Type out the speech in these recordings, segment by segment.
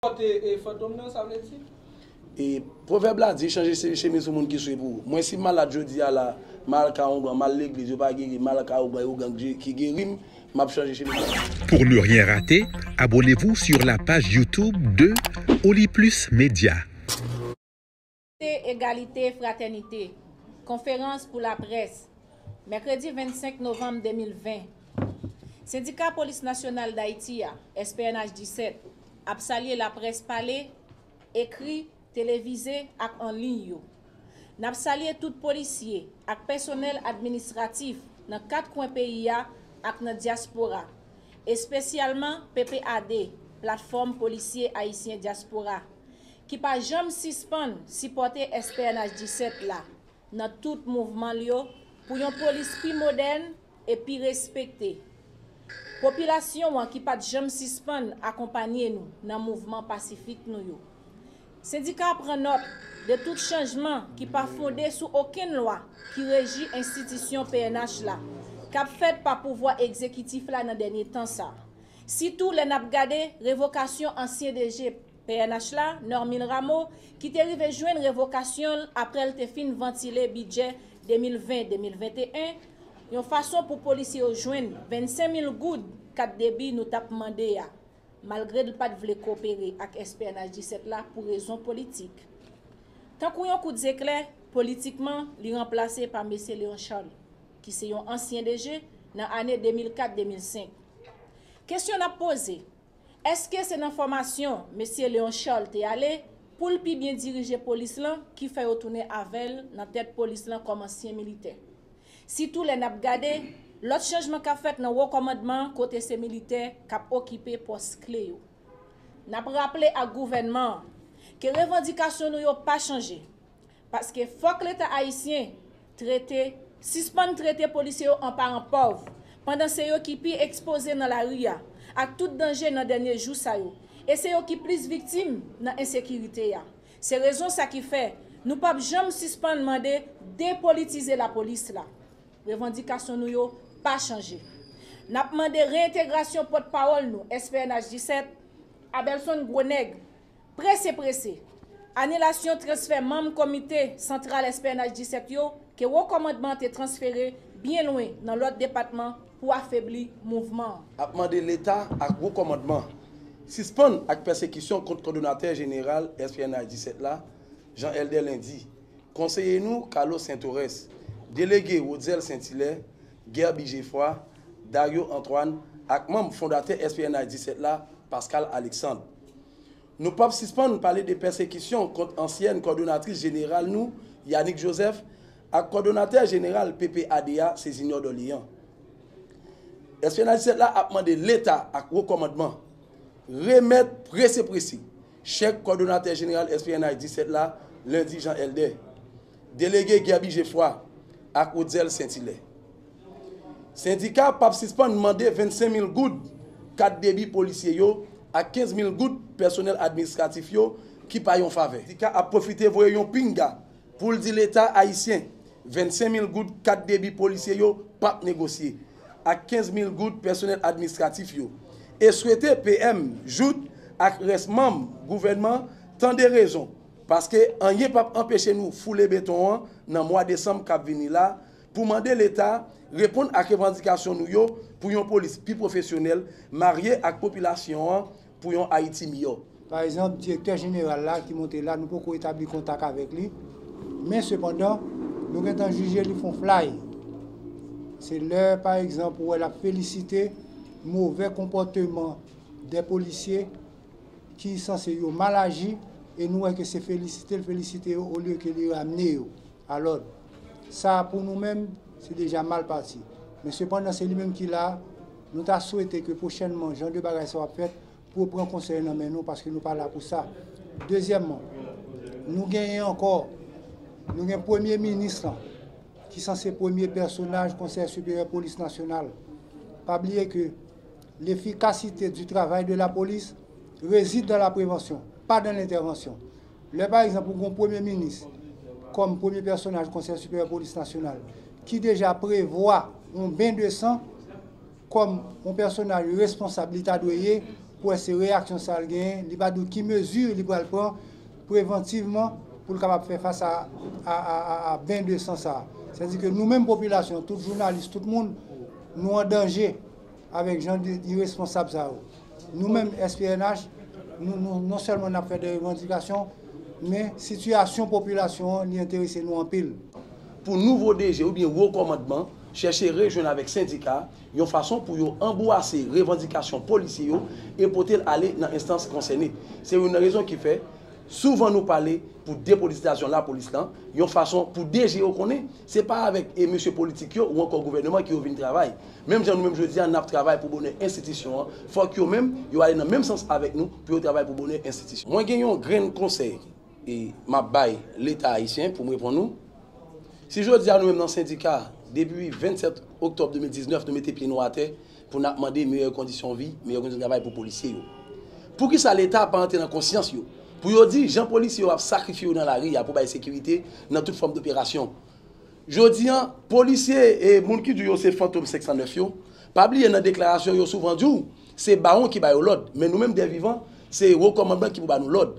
Pote fantom nan sa vle di. E pwovèb la di chanje chemiz sou moun ki swe pou ou. Mwen si m malad jodi a la, m al ka Oungan, m al legliz, yo pa geri m, m al ka Ougan e Ougan ki geri m, m ap chanje chemiz la. Pour ne rien rater, abonnez-vous sur la page YouTube de Oli Plus Média. Libète, Egalite, Fratènite, Konferans pou laprès, mèkredi 25 novanm 2020, Sendika Polis Nasyonal Dayiti a, SPNH 17, ap salye laprès pale, ekri, televize ak an liy yo. N ap salye tout polisye ak pèsonèl administratif nan kat kwen peyi a ak nan dyaspora, espesyalman PPAD, Platfòm Polisye Ayisyen Dyaspora, ki pa janm sispann sipòte SPNH 17 la nan tout mouvman l yo pou yon polis pi modèn e pi respekte popilasyon an ki pa t janm sispann akonpanye nou nan mouvman pasifik nou yo. Sendika a pran nòt de tout chanjman ki pa fonde sou okenn lwa ki reji enstitisyon pnh la k ap fèt pa pouvwa egzekitif la nan dènye tan sa a, sitou lè n ap gade revokasyon ansyen DG. Pnh la, Normil Rameau, ki te rive jwenn revokasyon l aprè l te fin vantile bidjè 2020, 2021, yon fason pou polisye yo jwenn 25 mil goud kat debi nou t ap mande a, malgre l pa t vle kopere ak SPNH 17 la pou rezon politik. Tankou yon kout zeklè, politikman, li ranplase pa Mesye Léon Charles, ki se yon ansyen DG, nan ane 2004, 2005. Kesyon n ap poze. Eske se nan fòmasyon Mesye Léon Charles te ale pou l pi byen dirije polis lan ki fè yo tounen avè l nan tèt polis lan kòm ansyen militè? Sitou lè n ap gade lòt chanjman k ap fèt nan wo kòmandman an kote se militè k ap okipe pòs kle yo. N ap raple ak gouvènman an ke revandikasyon nou yo pa chanje. Paske fòk leta ayisyen trete sispann trete polisye yo an paran pòv, pandan se yo ki pi ekspoze nan lari a ak tout danje nan dènye jou sa yo, e se yo ki plis viktim nan ensekirite a. Se rezon sa ki fè nou p ap janm sispann mande depolitize lapolis la. Revandikasyon nou yo pa chanje. N ap mande reyentegrasyon pòtpawòl nou SPNH 17, Abelson Gros Nègre, Prese prese, anilasyon transfè manm komite santral SPNH 17 yo ke wo kòmandman an te transfere byen lwen nan lòt depatman pou afebli mouvman an. Ap mande Leta ak wo kòmandman an sispann ak pèsekisyon kont kòdonatè jeneral SPNH 17 la, Jean Elder Lendy, konseye nou Carlos Saint-Orès, delege Rotzel Saint-Hilaire, Guerby Geffroy, Dario Antoine ak manm fondatè SPNH 17 la, Pascal Alexandre. Nou pap sispann pale de pèsekisyon kont ansyèn kòdonatris jeneral nou Yanick Joseph ak kòdonatè jeneral PPAD a Césignor Dorléans. Espyonaj 17 la ap mande Leta ak Wo Kòmandman remèt prese prese chèk kòdonatè jeneral espyonaj 17 la Lundi Jean Helder. Delege Guerby Geffroy ak Rotzel Saintilè. Sendika a pap sispann mande 25 mil goud kat debi polisye yo ak 15 mil goud pèsonèl administratif yo ki pa yon favè. Sendika a ap pwofite voye yon pinga pou l di leta ayisyen 25 mil goud kat debi polisye yo pap negosye ak 15 mil goud pèsonèl administratif yo e swete PM Jouthe ak rès manm gouvènman tande rezon Paske anyen pap anpeche nou foule beton an nan mwa desanm kap vini la pou mande leta reponn ak revandikasyon nou yo pou yon polis pi pwofesyonèl marye ak popilasyon an pou yon Ayiti miyò. Pa egzanp, direktè jeneral la ki monte la nou poko etabli kontak avèk li, men sepandan nou gentan jije li fon flay. Se lè pa egzanp ou wè lap felisite movè konpòteman 2 polisye, ki sanse yo mal aji e nou wè ke se felisite l felisite yo olye ke li ramne yo a lòd. Sa a pou nou menm se deja mal pati. Men sepandan se li menm ki la, nou ta swete ke pwochènman jan de bagay sa yo ap fèt pou yo pran konsèy nan men nou paske nou pa la pou sa. Dezyèmman, nou genyen ankò, nou gen premye minis lan ki sanse premye pèsonaj Konsèy Siperyè Polis Nasyonal. Pa bliye ke. L'efficacité du travail de la police réside dans la prévention, pas dans l'intervention. Lè pa egzanp ou gen yon premye minis kòm premye pèsonaj Konsèy Siperyè Polis Nasyonal ki deja prevwa yon ben de san kòm yon pèsonaj responsab li ta dwe ye pou wè se reyaksyon sa l genyen, li va di w ki mezi li pral pran prevantivman pou l kapab fè fas a ben de san sa. Sètadi ke nou menm popilasyon, tout jounalis, tout moun, nou an danje. Avèk jan de iresponsab sa yo, nou menm SPNH, nou non sèlman n ap fè de revandikasyon, men sitiyasyon popilasyon an li enterese nou anpil. Pou nouvo DG oubyen wo kòmandman chèche rejwenn avèk sendika yon fason pou yo anbwase revandikasyon polisye yo e pote l ale nan enstans konsène. Se youn nan rezon ki fè, souvan nou pale pou depolitizasyon lapolis lan, yon fason pou DG yo konnen se pa avèk e mesye politik yo ou ankò gouvèneman ki yo vin travay. Menm jan nou menm jodi a, n ap travay pou bonè enstitisyon an, fòk yo menm, yo ale nan menm sans avèk nou pou yo travay pou bonè enstitisyon. Mwen gen yon grenn konsèy m ap bay Leta ayisyen pou m reponn ou. Si jodi a nou menm nan sendika, depi 27 oktòb 2019 nou mete pye nou atè pou n ap mande meyè kondisyon vi, meyè kondisyon travay pou polisye yo. Poukisa Leta pa antre nan konsyans yo pou yo di jan polisye yo ap sakrifye yo nan lari a pou bay sekirite nan tout fòm doperasyon, Jodi an, polisye e moun ki di w yo se fantom 509 yo, pa bliye nan deklarasyon yo yo souvan di w se bawon ki ba yo lòd, men nou menm dè vivan se wo kòmandman ki pou ba nou lòd.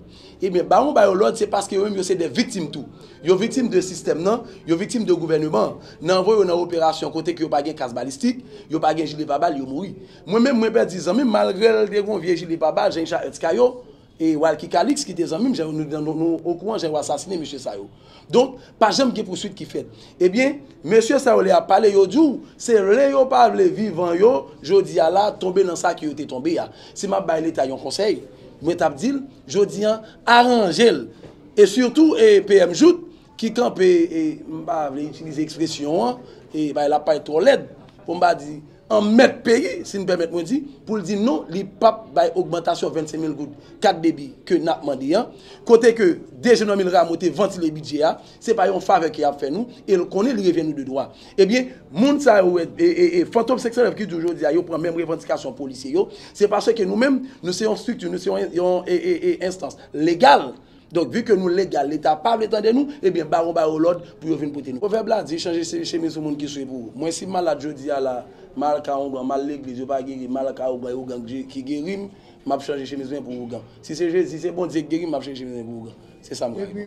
Ebyen bawon ba yo lòd se paske yo menm yo se dè viktim tou. Yo viktim de sistèm nan, yo viktim de gouvèneman an. Nan voye yo nan operasyon kote ke yo pa gen kas balistik, yo pa gen jile pa bal, yo mouri. Mwen menm mwen pèdi zanmi m malgre l te gon vye jile pa bal, jan Richard Hurtz ka yo, E Walky Calixte ki te zanmi m jan nou nou nou okouran jan yo asasine mesye sa yo. Donk pa janm gen pouswit ki fèt. Ebyen mesye sa yo lè y ap pale yo di w se vle yo pa vle vivan yo jodi a la tonbe nan sa ke yo te tonbe a. Si m ap bay leta yon konsèy mwen t ap di l jodi an aranje l e sitou e PM Jouthe ki kanpe e m pa vle itilize ekspresyon an e bay lapay twò lèd pou m pa di an mèt peyi, si n pèmèt mwen di, pou l di non, li p ap bay ogmantasyon 25 mil goud kat debi ke n ap mande an, kote ke DG Normil Rameau te vantile bidjè a, se pa yon favè ke y ap fè nou, e l konnen li revyen nou de dwa. Ebyen, moun sa yo, fantom 509 ki di w jodi a yo pran menm revandikasyon polisye yo, se paske nou menm, nou se yon estrikti, nou se yon enstans legal, Donk vi ke nou legal leta pa vle tande nou ebyen bawon ba yo lòd pou yo vin pote nou. Pwovèb la di chanje se chemiz pou moun ki swe pou ou. Mwen si m malad jodi a la, m al ka oungan, m al legliz yo pa geri m, m al ka ougan e ougan ki geri m, m ap chanje chemiz mwen pou ougan. Si se Jezi, se Bondye ki geri m, m ap chanje chemiz mwen pou ougan. Se sa m ka reponn.